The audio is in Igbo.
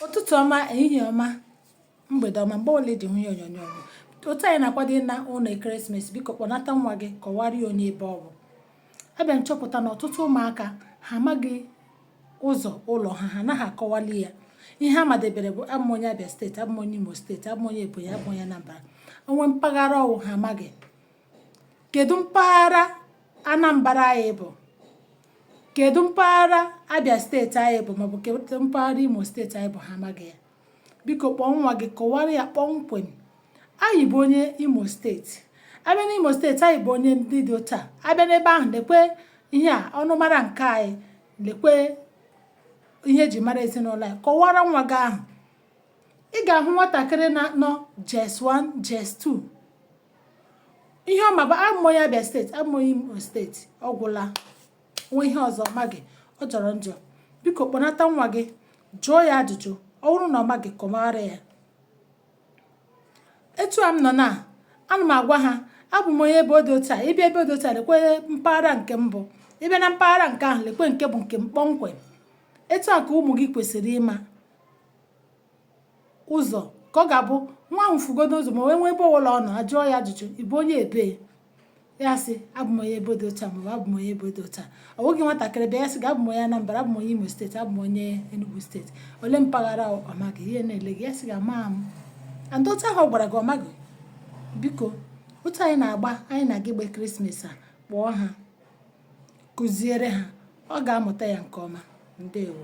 ụtụtụ ọma ehihie ọma mgbede ọma mgbe ọbụla i ji hụ ihe onyonyo ọ bụ otu anyị na-akwado ịna ụlọ ekeresimesi biko kpọnata nwa gị kọwara ya onye ebe ọ bụ abịa m chọpụta na ọtụtụ ụmụaka ha amaghị ụzọ ụlọ ha ha anaghị akọwali ya ihe ha madebere bụ abụ m onye Abia steeti abụ m onye Imo steeti abụ m onye Ebonyi abụ m onye Anambra ole mpaghara ọ wụ ha amaghị kedu mpaghara Anambra anyị bụ kedu mpaghara Abia steeti anyị bụ maọbụ kedu mpaghara Imo steeti anyị bụ ha amaghị ya biko kpọọ nwa gị kọwara ya kpọmkwem anyị bụ onye Imo steeti a bịa n'Imo steeti anyị bụ onye ndị dị otu a a bịa n'ebe ahụ lekwe ihe a ọnụmara nke anyị lekwe ihe e ji mara ezinụlọ anyị kọwara nwa gị ahụ ị ga-ahụ nwatakịrị na-anọ JS 1 JS 2 ihe ọ ma bụ abụ m onye Abia steeti abụ m onye Imo steeti ọ gwụla nwe ihe ọzọ ọ maghị ọ jọrọ njọ biko kpọnata nwa gị jụọ ya ajụjụ ọ bụrụ na ọ maghị kọwara ya etu a m nọ na ana m agwa ha abụ m onye ebe ọ dị otu a ị bịa ebe ọ dị otu a lekwe mpaghara nke m bụ ị bịa na mpaghara nke ahụ lekwe nke bụ nke m kpọmkwem etu a ka ụmụ gị kwesịrị ịma ụzọ ka ọ ga-abụ nwa ahụ fugodo ụzọ ma wee nwee ebe ọbụla ọ nọ ajụọ ya ajụjụ ị bụ onye ebee ya sị abụ m onye ebe dị otu a maọbụ abụ m onye ebe dị otu a ọ bụghị nwatakịrị bịa ya sị gị abụ m onye Anambra abụ m onye Imo steeti abụ m onye Enugu steeti ole mpaghara ọ maghị ihe na-ele gị ya sị gị ama m and otu ahụ ọ gwara gị ọ maghị biko otu anyị na-agba anyị na-aga ịgba krismas a kpọọ ha kụziere ha ọ ga-amụta ya nke ọma ndewo